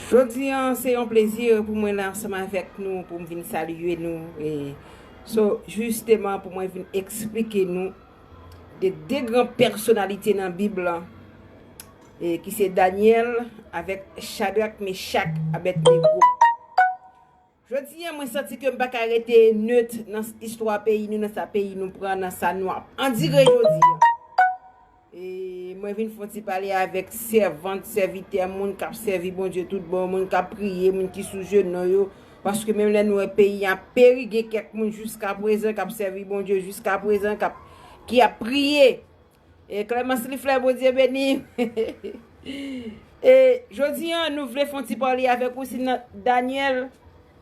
Jodi a se yon plezi pou mwen la ansanm avèk nou pou m vin salye nou e so jisteman pou mwen vin eksplike nou de de gran pèsonalite nan bib la e ki se Daniel avèk chadrak mechak abèd nego Jodi an mwen santi ke m pa ka rete neut nan istwa peyi nou, nan sa peyi nou pran, nan sa nou ap andire jodi an. E mwen vin fon ti pale avèk sèvant, sèvitè, moun k ap sèvi Bondye tout bon, moun k ap priye, moun ki sou jenou yo. Paske menm lè nou wè peyi an ap peri, gen kèk moun jiskaprezan k ap sèvi Bondye jiskaprezan, k ap, ki ap priye. E Clemence Liflè Bondye beni E jodi an nou vle fon ti pale avèk ou si nan Daniel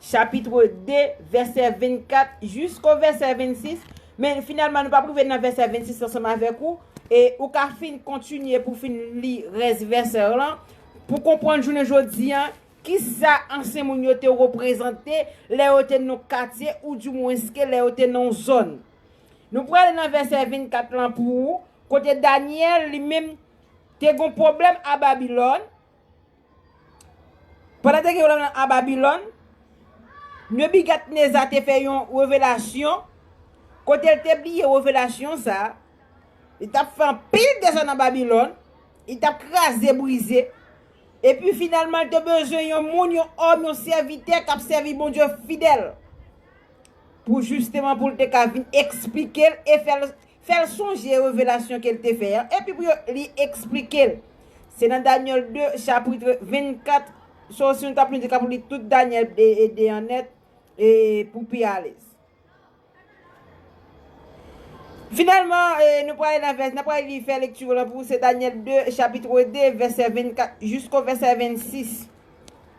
chapitre 2 vèsè 24 jisko vèsè 26 men finalman nou pa pou vè nan vèsè 26 ansanm avèk ou e ou ka fin kontinye pou fin li rès vèsè lan pou konprann jounen jodi an ki sa ansyen moun yo te reprezante lè yo te nan katye ou di mwen ske lè yo te nan zòn. Nou prale nan vèsè 24 lan pou ou, kote Daniel li menm te gon pwoblèm a Babilòn. Pandan te gen pwoblèm lan a Babilòn, Nebigadneza te fè yon revelasyon, kote l te bliye revelasyon sa, li t ap fè anpil dega nan Babilòn, li t ap kraze brize, epi finalman l te bezwen yon moun, yon òm, yon sèvitè k ap sèvi Bondye fidèl. pou jisteman pou l te ka vin esplike l e fè l fè l sonje revelasyon ke l te fè an, epi pou yo li esplike l. Se nan Daniel 2, chapitre 24, so si nou ta plis de ka pou li tout Daniel 2 e 2 an nèt e pou pi alèz. Finalman, e nou pral ale nan vèsè, nan pral li fè lekti lan pou se Daniel 2, chapitre 2, vèsè 24 jisko vèsè 26.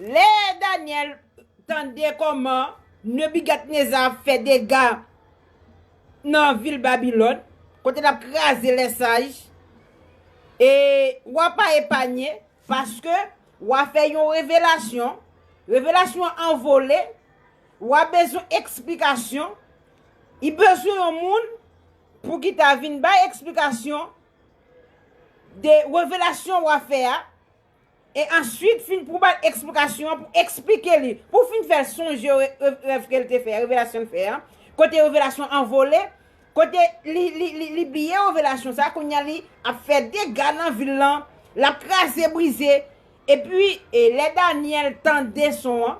Lè Danyèl tande kòman Nebigadneza ap fè dega nan vil Babilòn, kote l ap kraze lèsaj, e wa pa epanye, paske wa fè yon revelasyon, revelasyon an an vole, wa bezwen eksplikasyon, li bezwen yon moun pou ki ta vin bay eksplikasyon de revelasyon wa fè a, E answit fin pou ba l eksplikasyon an, pou eksplike li, pou fin fè l sonje rèv ke l te fè, revelasyon l fè an, kote revelasyon an vole, kote li bliye revelasyon sa, kounye a li ap fè dega nan vil lan, l ap kraze brize. Epi lè Danyèl tande son an,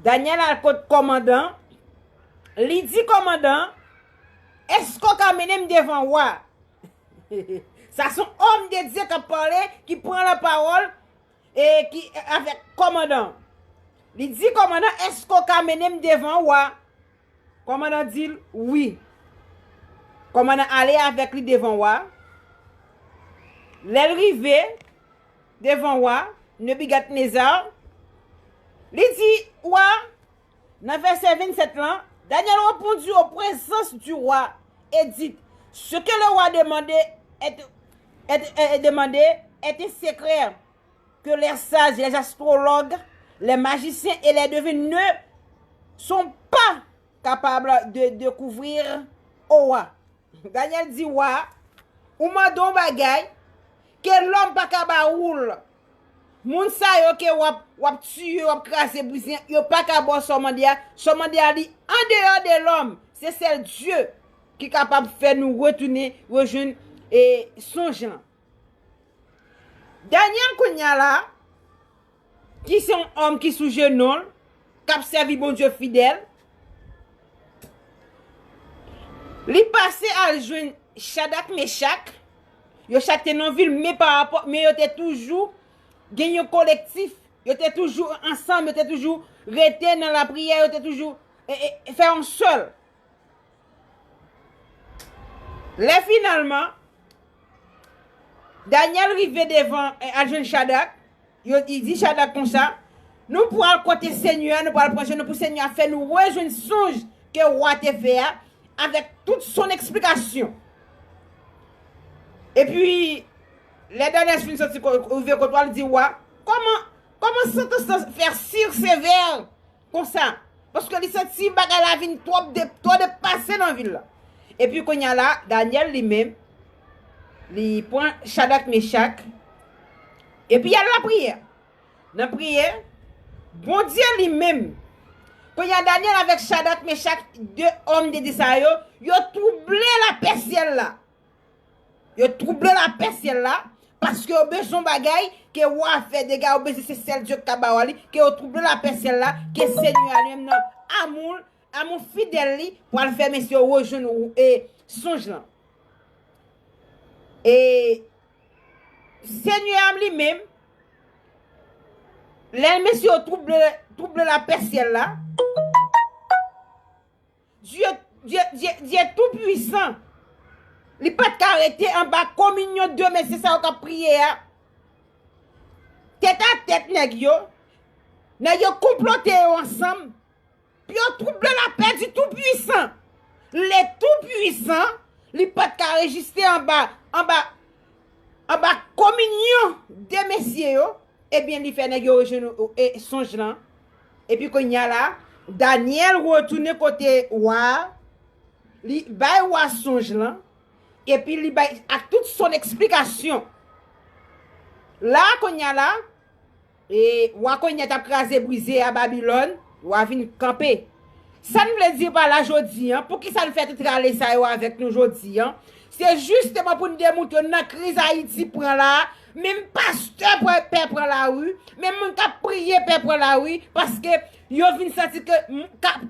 Danyèl al kot kòmandan, li di kòmandan an, Èske w ka mennen m devan wa? Sa son homme de Dieu kap pale, ki pran la parole e ki avek komandan. Li di komandan eske ou ka menem devan ou a? Komandan dil wi. Komandan ale avek li devan ou a. Lel rive devan ou a, Nebougadnezar li di ou a Nan vèsè 27 lan, Danyèl repondi o prezans di wa, e dit, Se ke le wa demande èt èt èt demande èt un sekrè ke lè saj, lè astrològ, lè majisyen e lè devin ne son pa kapab de dekouvrir o wa. Danyèl di wa a, Ou mande on bagay ke lòm pa ka ba ou l. Moun sa yo ke wap wap tiye wap kraze brize yo paka baw sa w mande a sa w mande a li andeyò de lòm se sèl Dye ki kapab fè nou retounen rejwenn e sonj lan Daniel kounya la ki se yon òm ki sou jenonl kap sèvi Bondye fidèl li pase al jwenn Chadak Mechak Yo chak te nan vil men pa rapò, men yo te toujou gen yon kolektif, yo te toujou ansanm, yo te toujou rete nan lapriyè, yo te toujou fè yon sèl. Lè finalman, Danyèl rive devan, al jwenn Chadrak, Yo di di Chadrak konsa, Nou pral kote senyè a, nou pral pran je nou pou senyè a fè nou rejwenn sonj ke wa te fè a avèk tout son eksplikasyon. Epi, lè Danyès fin soti rive kot wa, li di wa, Kòman, kòman sèkonstans fè Sir Sévère Konsa. Paske li santi bagay la vin twòp de, twò de pase nan vil la. Epi kounya la, Danyèl li menm, li pran Chadak Mechak, epi y al lapriyè. Nan priyè, Bondye li menm, kounya Danyèl avèk Chadak Mechak, de òm de di sa yo, yo twouble lapè syèl la. Yo twouble lapè syèl la, paske yo bezwen yon bagay, ke wa a fè dega, yo bezwen se sèl Dye ki ka ba wa li, ke yo twouble lapè syèl la, ke Senyè a li menm nan amou l', amou fidèl li, pral fè mesye yo rejwenn sonj lan. E Senyè a li menm, lè mesye yo twouble lapè syèl la, Dye, Dye, Dye, Dye tou pwisan. Li pat ka rete anba kominyon de mesye sa yo kap priye a. Tèt a tèt nèg yo. Nèg yo konplote yo ansanm. Pou yo twouble lapè di tou pwisan. Le tou pwisan, li pat ka rejiste anba, anba, anba kominyon de mesye yo, ebyen li fè nèg yo rejwenn sonj lan. Epi kounye a la, Danyèl retounen kote wa a, li bay wa a sonj lan, epi li bay ak tout son eksplikasyon. La a kounye a la, e wa kounye a t ap kraze brize a Babilòn, wa a vin kanpe. Sa n vle di pa la jodi a, poukisa n fè tout rale sa yo avèk nou jodi a, se jisteman pou n demoutre w nan kriz Ayiti pran la a, Menm pastè pral pè pran la ru, menm moun kap priye pè pran la ru paske yo vin santi ke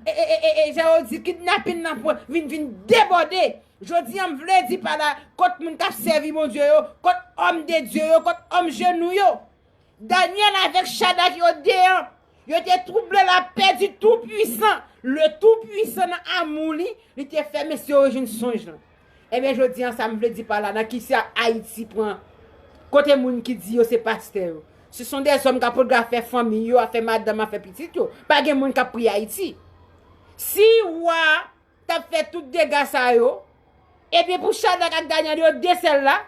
e jan yo di kidnapin nan pran vin vin debòde. Jodi an m vle di pa la kont moun kap sèvi Bondye yo, kont òm de Dye yo, kont òm jenou yo. Daniel avèk Shadrack yo deyan Yo te twouble lapè di Toupuisan. Le Toupuisan nan amou li, li te fè mesye yo jwenn sonj lan. Ebyen jodi an sa m vle di pa la nan ki sa Ayiti pran kote moun ki di yo se pastè yo. Se son de zòm k ap odafè fanmiy yo, afè madanm, afè pitit yo. Pa gen moun k ap priye Ayiti. Si wa a t ap fè tout dega sa yo, ebyen pou Chadak ak Danyèl yo de sèl la,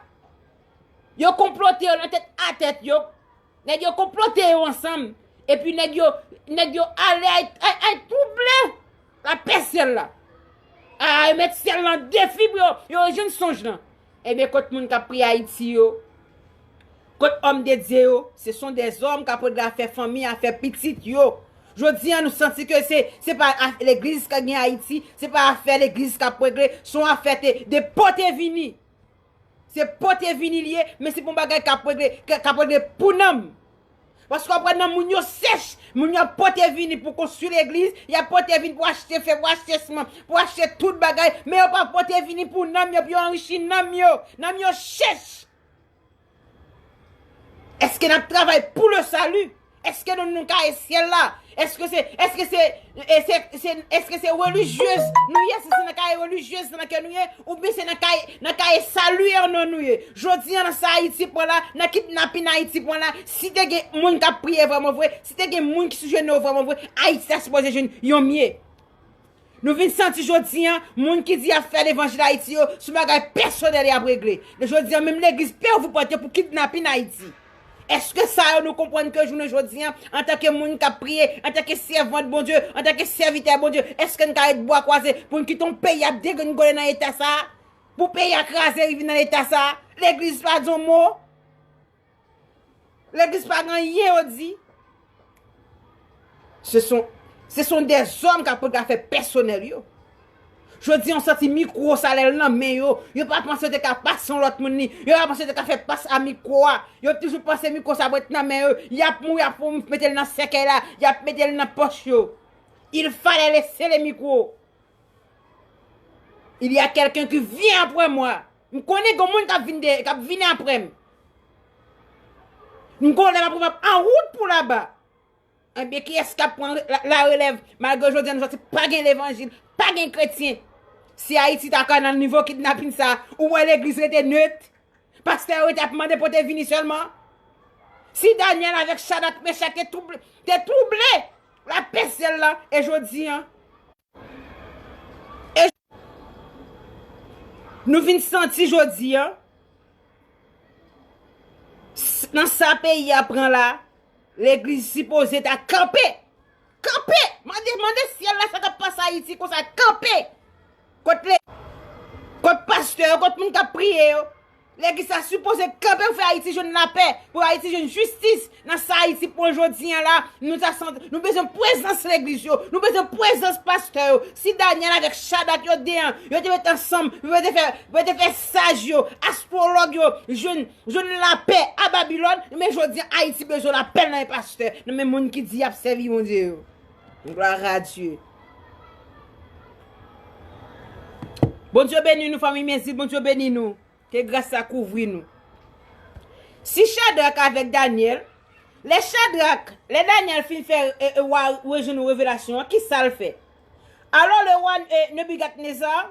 yo konplote yo nan tèt a tèt yo Nèg yo konplote yo ansanm. Epi nèg yo, nèg yo ale ay, ay, ay twouble lapè syèl la. A, yo met syèl lan defi pou yo, yo rejwenn sonj lan. Ebyen kot moun kap priye Ayiti yo? Kot òm de Dye yo? Se son dezòm kap regle afè fanmi, afè pitit yo. Jodi an nou santi ke se, se pa afè legliz kap gen Ayiti, se pa afè legliz kap regle, son afè te, depo te vini. Se pote vini li ye, men se pou yon bagay k ap regle, k ap regle pou nanm. Paske w ap wè nanm moun yo sèch, moun yo ap pote vini pou konstwi legliz, y ap pote vini pou achte fè, pou achte siman, pou achte tout bagay, men yo pa pote vini pou nanm yo, pou yo anrichi nanm yo. Nanm yo chèch! Èske n ap travay pou le salut? Eske nou nou ka e syèl la? Eske se, eske se, eske se, eske se relijyez nou ye? Si se nan ka e relijyez nan ke nou ye? Ou byen se nan ka e, nan ka e salu an non nou ye? Jodi an nan sa Ayiti pran la, nan kidnapin Ayiti pran la, si te gen moun kap priye vreman vre, si te gen moun ki sou jenou yo vreman vre, Ayiti ta sipoze jwenn yon mye. Nou vin santi jodi an, moun ki di y ap fè levanjil Ayiti yo, sou bagay pèsonèl y ap regle. Lè jodi an, menm legliz pè ou vou pwente pou kidnapin Ayiti. Eske sa yo nou konprann ke jounen jodi an, antanke moun k ap priye, antanke sèvant Bondye, antanke sèvitè Bondye, eske n ka ret bwa kwaze pou n kite yon peyi ap degrenngole nan eta sa a? Pou peyi a kraze rive nan eta sa a? Legliz pa di yon mo? Legliz pa gen anyen yo di. Se son, se son de zòm kap pote afè pèsonèl yo. Jodi an santi mikwo salè l nan men yo. Yo pa panse yo te ka pas yon lòt moun ni. Yo pa panse yo te ka fè pas a mikwo a. Yo toujou panse mikwo sa ap ret nan men yo. Yap mouri ap foun mete l nan sèkèy la. Yap mete l nan pòch yo. Il fale lese le mikwo. Il ya kelken ki vyen apre mwa. M konnen gon moun kap vin dèyè, kap vin aprè m. M konnen map rive ap an wout pou laba. Ebyen kiyès kap pran la relèv malgre jodi an nou santi pa gen levanjil, pa gen kretyen. Si Ayiti ta ka nan nivo kidnapin sa, ou wè legliz rete nöt? Pastè yo rete ap mande pote vini sèlman? Si Danyèl avèk Chadrak Mechak te twouble, la pès zyèl la, e jodi an? E Nou vin santi jodi an Nan sa peyi a pran la Legliz sipoze ta kanpe Kanpe Mande mande syèl la sa k ap pase Ayiti konsa kanpe Kot le Kot pastè yo kot moun k ap priye yo Nèg isa sipoze kanpe pou fè ayiti jwenn lapè pou ayiti jwenn jistis nan sa ayiti pwan jodi an la nou ta san nou bezwen pwezans legliz yo nou bezwen pwezans pastè yo si danyèl avèk chadak yo de an yo te met ansanm pou yo te fè pou yo te fè saj yo astwològ yo jwenn jwenn lapè a babilòn men jodi an ayiti bezwen lapè nan men pastè nan men moun ki di yap sèvi bondye yo. Gloire a Dieu. Bondye beni nou fanmi mezi Bondye beni nou. Ke gras la kouvri nou. Si chadrak avèk Daniel. Le chadrak. Le Daniel fin fè e e wa rejwenn revelasyon an. Ki sal fè. Alò le wa e nebigat nezar.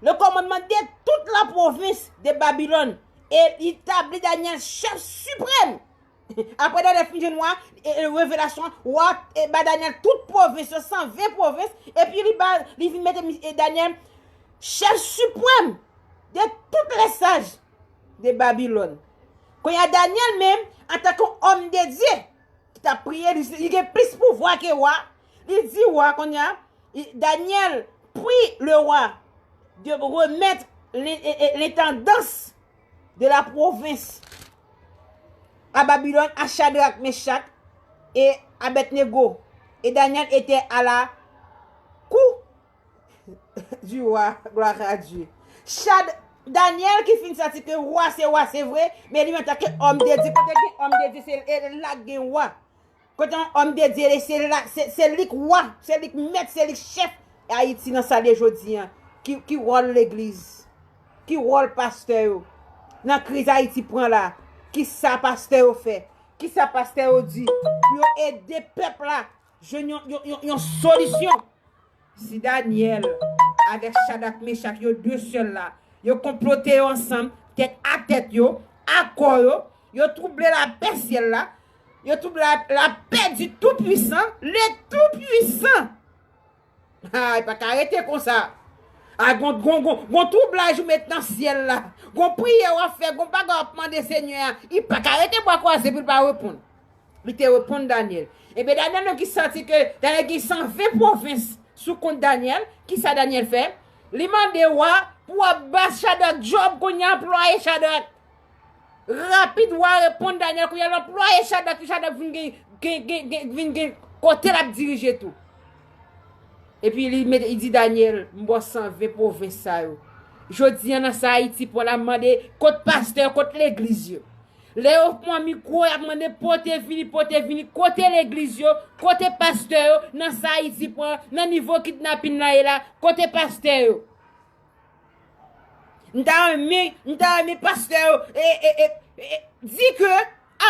Le kòmandman de tout la pwovens de Babilòn, e li tabli Danyèl chèf siprèm. Apre Danyèl fin jwenn wa, revelasyon an, wa a ba Danyèl tout pwovens yo, 120 pwovens, epi li ba, li vin mete Danyèl chèf siprèm de tout lèsaj de Babilòn. Kounye a Danyèl menm, antanke yon òm de Dye, ki t ap priye, li gen plis pouvwa ke wa, Li di wa kounye a, Danyèl, pri le wa de remèt lentandans de la pwovens a Babilòn a Chadrak, Mechak e Abèdnego, e Danyèl etè a la kou di wa. Gloire-à-Dieu! Chad, Danyèl ki fin santi ke wa se wa se vre, men li menm antanke òm de Dye, kote gen òm de Dye se la gen wa. Kote yon homme de Dieu ye se la se li k wa, se li k mèt, se li k chèf Ayiti nan sa l ye jodi an. Ki wòl legliz? Ki wòl pastè yo? Nan kriz Ayiti pran la, ki sa pastè yo fè? Ki sa pastè yo di pou yo ede pèp la jwenn yon yon yon solisyon? Si Danyèl avèk Chadak Mechak yo de sèl la, yo konplote yo ansanm, tèt a tèt yo, a kò yo, yo twouble lapè syèl la, yo twouble lapè di Toupwisan, le Toupwisan! A, li pa ka rete konsa! A, gon twoublaj ou met nan syèl la, gon priyè w ap fè, gon bagay w ap mande Senyè a, li pa ka rete bwa kwaze pou l pa reponn. Li te reponn Daniel. Ebyen Daniel menm ki santi ke Daniel gen 120 pwovens sou kont Daniel, kisa Daniel fè? Li mande wa pou wa ba Chadrak djòb kounye a anplwaye Chadrak. Rapid wa reponn Daniel kounye a l anplwaye Chadrak pou Chadrak vin gen gen gen gen vin gen kote lap dirije tou. Epi li mete li di Daniel m ba w 120 pwovens sa yo. Jodi an nan sa Ayiti pran la m mande kot pastè yo, kot legliz yo. Lè yo pwan mikwo yap mande pote vini pote vini kote legliz yo kote pastè yo nan sa ayiti pran nan nivo kidnapin la ye la kote pastè yo. M ta renmen m ta renmen pastè yo e e e e di ke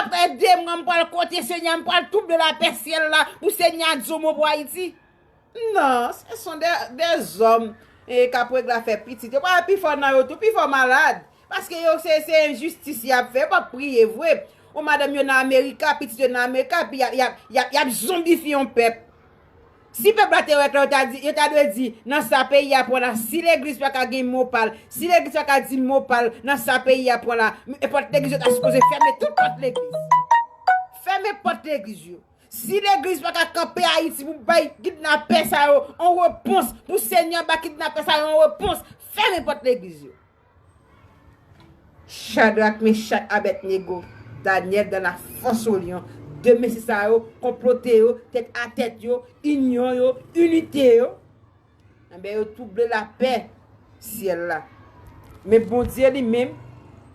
aprè 2 mwa m pral kote senyè a m pral touble lapè syèl la pou senyè a di yon mo pou ayiti. Non, se son de dezòm k ap règle afè pitit yo. Pral pi fò nan yo tou, pi fò malad. Paske yo se enjistis y ap fè, yo pa p priye vre. Ou madanm yo nan Amerika, pitit yo nan Amerika, epi y ap zonbifye yon pèp. Si pèp la te wè klè, yo ta dwe di, nan sa peyi a pran la, si legliz pa ka gen mo pa l, si legliz pa ka di mo pa l nan sa peyi a pran la, pòt legliz yo ta sipoze fèmen tout pòt legliz. Fèmen pòt legliz yo. Si legliz pa ka kanpe ayiti pou bay kidnapè sa yo yon repons pou senyè ba kidnapè sa yo yon repons fèmen pòt legliz yo. Chadrak mechak abèdnego danyèl dan la fòs o lyon de mesi sa yo konplote yo tèt a tèt yo inyon yo inite yo. Anben yo touble lapè syèl la. Men Bondye li menm,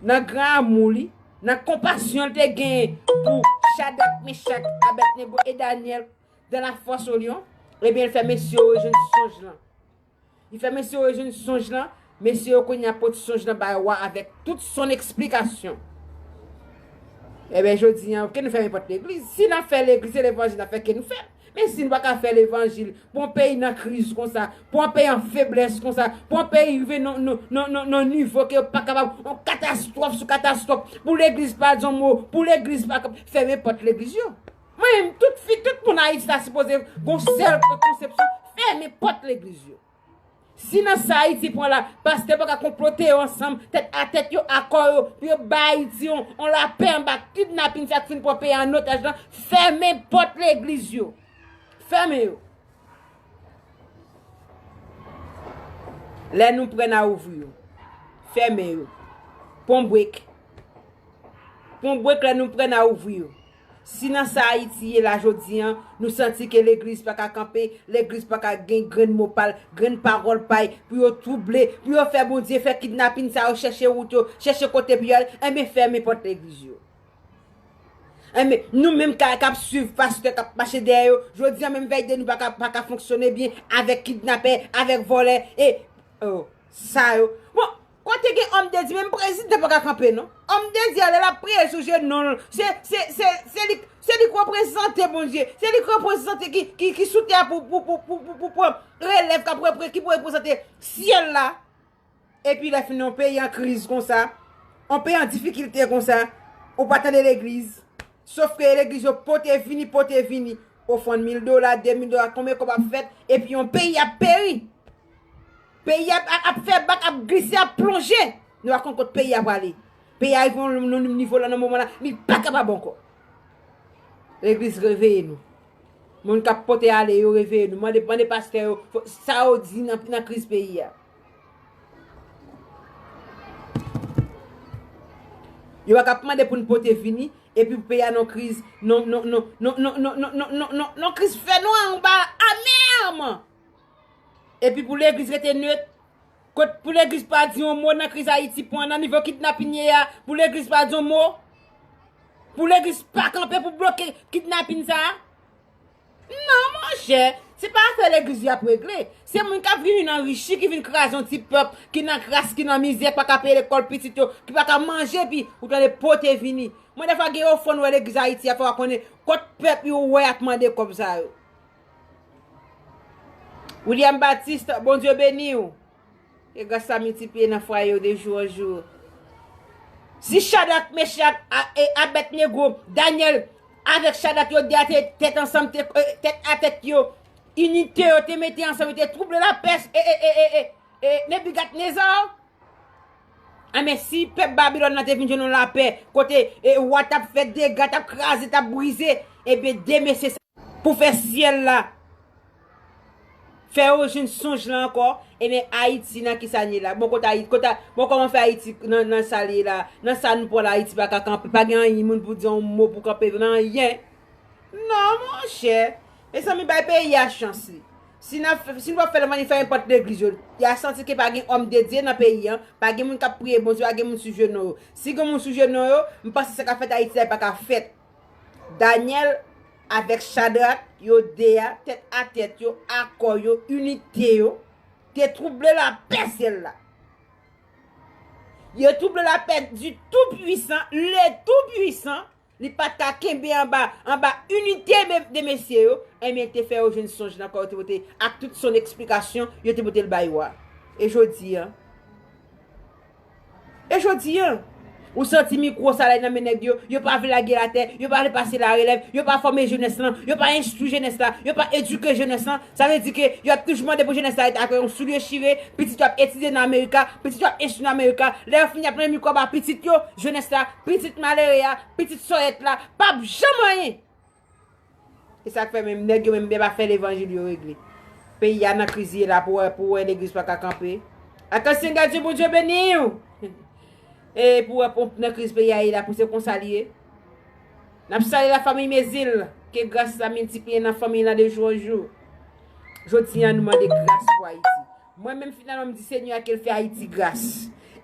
nan gran amou li, nan konpasyon li te genyen pou Chadrak, Mechak, Abednego e Danyèl dan la fòs o lyon, ebyen li fè mesye yo rejwenn sonj lan. Li fè mesye yo rejwenn sonj lan, mesye yo kounye a pot sonj lan bay wa avèk tout son eksplikasyon. Ebyen jodi an, pou ki nou fèmen pòt legliz? Si nan fè legliz, se levanjil nan fè, ki nou fè? Men si n pa ka fè levanjil pou yon peyi nan kriz konsa, pou yon peyi an feblès konsa, pou yon peyi rive nan yon nivo ke yo pa kapab, yon katastwòf sou katastwòf, pou legliz pa di yon mo, pou legliz pa fèmen pòt legliz yo. Mwen menm, tout fi, tout moun Ayiti ta sipoze gen yon sèl konsepsyon, fèmen pòt legliz yo. Si nan sa Ayiti pran la, pastè pa ka konplote yo ansanm, tèt a tèt yo akò yo pou yo bay Ayiti yon lapè anba kidnapin sa k fin pran peyi a an otaj lan, fèmen pòt legliz yo. Fèmen yo. Lè nou prè n a ouvri yo. Fèmen yo. Pon bwek. Pon bwek lè nou prè n a ouvri yo. Si nan sa Ayiti ye la jodi an, nou santi ke legliz pa ka kanpe, legliz pa ka gen grenn mo pa l, grenn pawòl pa y, pou yo twouble, pou yo fè Bondye fè kidnapin sa yo chèche wout yo, chèche kote pou y al, enben fèmen pòt legliz yo. Enben, nou menm k ap swiv pastè k ap mache dèyè yo, jodi an menm vèy de nou pa ka fonksyone byen avèk kidnapè, avèk vòlè, e, o, sa yo. Bon! Kote gen homme de Dieu menm prezidan paka kanpe non homme de Dieu a lè lap priye sou jenou l se se li se li k reprezante Bondye se li k reprezante ki sou tè a pou pou pou pou pou pou pran relèv kap repre ki pou reprezante syèl la epi lè fini yon peyi an kriz konsa yon peyi an difikilte konsa ou pa tande legliz sof ke legliz yo pote vini pote vini ofrann mil dola de mil dola konbyen kob ap fèt epi yon peyi ap peri. Peyi a ap fè bak, ap glise, ap plonje. Nou pa konn kot peyi a prale. Peyi a rive yon nivo la nan moman la, li pa kapab ankò. Legliz reveye nou. Moun k ap pote ale yo reveye nou. Mande pastè yo sa yo di nan kriz peyi a. Yo pa kap mande pou n pote vini, epi pou peyi a nan kriz, nan kriz fè nwa anba amèrman. Epi pou legliz rete nöt? Kot pou legliz pa di yon mo nan kriz Ayiti pwan nan nivo kidnapin ye a pou legliz pa di yon mo? Pou legliz pa kanpe pou bloke kidnapin sa? Non monchè, se pa afè legliz yo ap regle, se moun kap vini nan richi ki vin kraze yon ti pèp ki nan kras ki nan mizè pa ka peye lekòl pitit yo ki pa ka manje epi ou tande pote vini. Mwen defwa gen ofrann wè legliz Ayiti a fè wa konnen kot pèp yo wè ap mande kòb sa yo. William Baptiste Bondye beniw Ke gras la miltipliye nan fwaye w de jou an jou Si Chadrak Mechak e Abednego Danyèl avèk Chadrak yo de te tèt ansanm te tèt a tèt yo inite yo te mete ansanm yo te twouble lapè e Nebigadneza Enben, si pèp Babilòn nan te vin jwenn yon lapè, kote wa t ap fè dega, t ap kraze, t ap brize, enben, de mesye sa yo, pou fè syèl la fè yo jwenn sonj lan ankò, enben, Ayiti nan ki sa n ye la? Bon, kote Ayiti, kote, bon, kòman fè Ayiti nan sa l ye la? Nan sa nou pran la Ayiti pa ka kanpe, pa gen anyen moun pou di yon mo pou kanpe l, nan anyen! Non monchè, mezanmi bay peyi a chans li. Si n ap si nou pa fè l anyn fè enpòt legliz yo. Ya santi ke pa gen òm de Dye nan peyi an, pa gen moun k ap priye Bondye, pa gen moun sou jenou yo. Si gen moun sou jenou yo, m panse sa k ap fèt Ayiti la li pa ka fèt. Danyèl avèk Chadrak, yo de a, tèt a tèt yo, akò yo, inite yo, te twouble lapè syèl la. Yo twouble lapè di Tou Pwisan, le Tou Pwisan. Li pat ka kenbe anba anba inite de mesye yo, enben te fè yo jwenn sonj nan kò yo te pote ak tout son eksplikasyon yo te pote l bay wa. E jodi an? E jodi an? Ou santi mikwo sa lè nan men nèg yo, yo pa vle lage l atè, yo pa vle pase larelèv, yo pa fòme jenès lan, yo pa enstwi jenès la, yo pa edike jenès lan, Sa vle di ke yo ap toujou mande pou jenès la ret ak yon soulye chire, pitit yo ap etidye nan Amerika, pitit yo ap enstwi nan Amerika, lè yo fini y ap renmen mikwo ba pitit yo, jenès la, pitit malere a, pitit sòyèt la, p ap janm anyen! E sa k fè menm nèg yo menm byen pa fè levanjil yo regle. Peyi a nan kriz li ye la pou wè pou wè legliz pa ka kanpe. Atansyon Gadjou Bondye beniw! E pou wè pou nan kriz peyi a ye la pou se konsa li ye. Nap salye la famiy mezil ke gras la miltipliye nan famiy la de jou an jou jodi an nou mande gras pou ayiti mwen menm finalman m di senyè a kel fè ayiti gras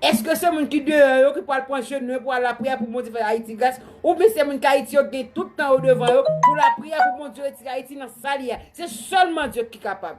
eske se moun ki deyò yo ki pwal pran je nou yo pwal lapriyè pou bondye fè ayiti gras oubyen se moun ki ayiti yo gen tout tan yo devan yo pou lapriyè pou bondye retire ayiti nan sal ye a se sèlman dye ki kapab.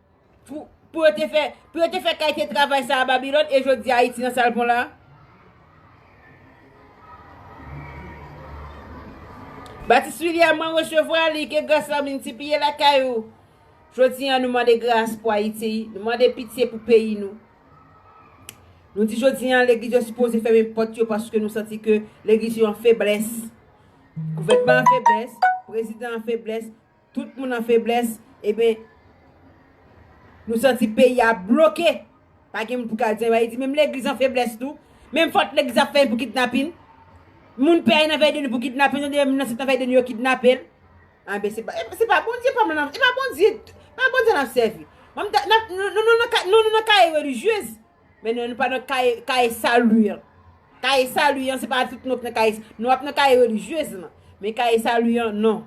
Pou yo te fè, pou yo te fè kalite travay sa a Babilòn e jodi a Ayiti nan sa l bon la a? Baptiste William, mwen resevwa li, ke gras la miltipliye lakay ou. Jodi an nou mande gras pou Ayiti, nou mande pitye pou peyi nou. Nou di jodi an legliz yo sipoze fèmen pòt yo paske nou santi ke legliz yo an feblès. Gouvènman an feblès, prezidan an feblès. Tout moun an feblès eben Nou santi peyi a bloke pa gen moun pou kal di anyn ayiti menm legliz an feblès tou menm fòt legliz ap fè anyn pou kidnapin moun pè nan vèy de nu pou kidnapin nou tande yon moun nan sèt nan vèy de nu yo kidnapel anben se pa bondye pam nan e pa bondye nap sèvi nou nou nan kaye relijyez Men nou pa nan kaye salu an. Kaye salu an se pa tout nou ap nan kaye. Nou ap nan kaye relijyez lan. Men kaye salu an non.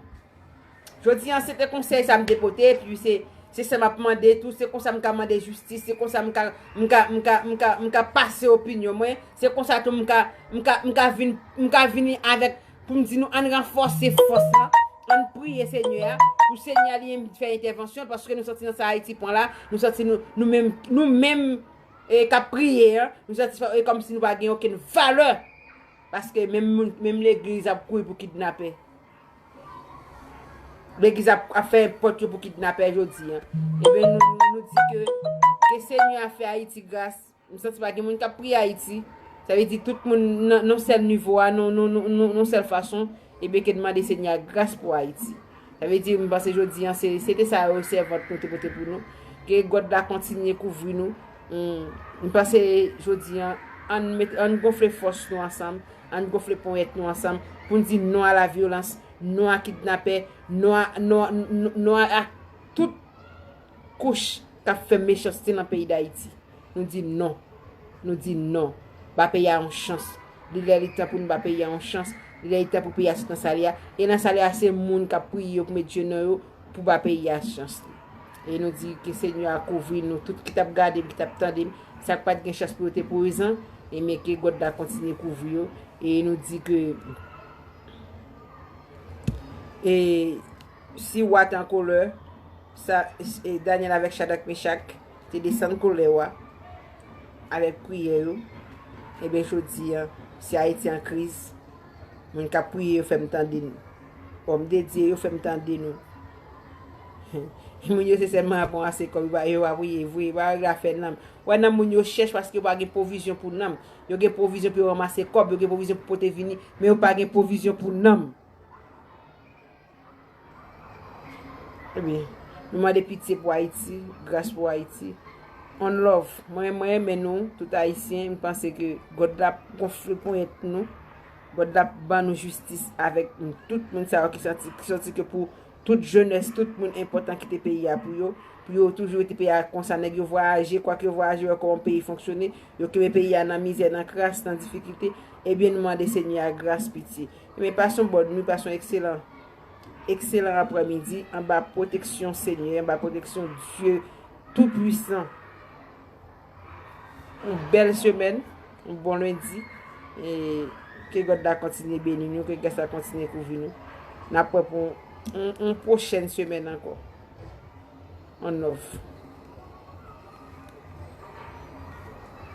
Jodi an se te konsey sa m te pote. Pi se sa m ap mande tou. Se konsa m ka mande jistis. Se konsa m ka m ka pase opinyon mwen. Se konsa tou m ka vini avek. Pou m di nou ann ranfòse fòs la, ann priye Senyè a, pou Senyè a li menm fè entèvansyon l, paske nou santi nan sa Ayiti pran la, nou santi nou menm, nou menm k ap priye a, nou santi e kòm si nou pa gen okenn valè, paske menm moun, menm legliz ap kouri pou kidnapè. Legliz ap fè pòt yo pou kidnapè jodi a. Eben nou di ke, ke Senyè a fè Ayiti gras. M santi pa gen moun kap priye Ayiti, sa vle di tout moun nan yon sèl nivo a, nan yon sèl fason, e byen ke n mande Senyè a gras pou Ayiti. Sa vle di, m panse jodi an, se te sa yo sèvant nou te pote pou nou, ke God la kontinye kouvri nou, m panse jodi an, ann gonfle fòs nou ansanm, ann gonfle ponyèt nou ansanm, pou n di non a la vyolans, non a kidnapè, non a tout. kouch kap fè mechanste nan peyi dayiti nou di non nou di non ba peyi a yon chans li lè li tan pou nou ba peyi a yon chans li lè li tan pou peyi a sot nan sal ye a e nan sal ye a se moun kap priye yo pou met je nan yo pou ba peyi a chans li e nou di ke senyè a kouvri nou tout ki tap gadem ki tap tandem sak pat gen chans pou yo te prezan e men ke God la kontinye kouvri yo e nou di ke e si wa t an kolè. Sa Danyèl avèk Chadrak, Mechak te desann kolè wa avèk priyè yo, enben jodi a, si Ayiti an kriz, moun k ap priye yo fè m tande nou. Òmdedye yo fè m tande nou. Moun yo se sèlman ap ranse kòb, yo pa priye vre, yo pa règle afè nanm. Wè nanm moun yo chèch paske yo pa gen pwovizyon pou nanm. Yo gen pwovizyon pou yo ranmase kòb, yo gen pwovizyon pou pote vini, men yo pa gen pwovizyon pou nanm. Ebyen, nou mande pitye pou Ayiti, gras pou Ayiti. On love. Mwen renmen nou, tout Ayisyen, m panse ke God la ap gonfle ponyèt nou. God la ap ban nou jistis avèk tout moun sa yo ki santi, ki santi ke pou tout jenès, tout moun enpòtan kite peyi a pou yo, pou yo toujou rete peyi a konsa. Nèg yo vwayaje, kwak yo vwayaje, yo wè kòman peyi fonksyone, yo kenbe peyi a nan mizè, nan kras, nan difikilte. Ebyen nou mande Senyè a gras, pitye. Ebyen pase yon bòn nwi, pase yon ekselan, ekselan aprè midi anba pwoteksyon Senyè, anba pwoteksyon Dye tou pwisan. Yon bèl semèn, yon bon lendi, e ke God la kontinye beni nou, ke gras la kontinye kouvri nou. N ap wè pou yon pwochèn semèn ankò. On off.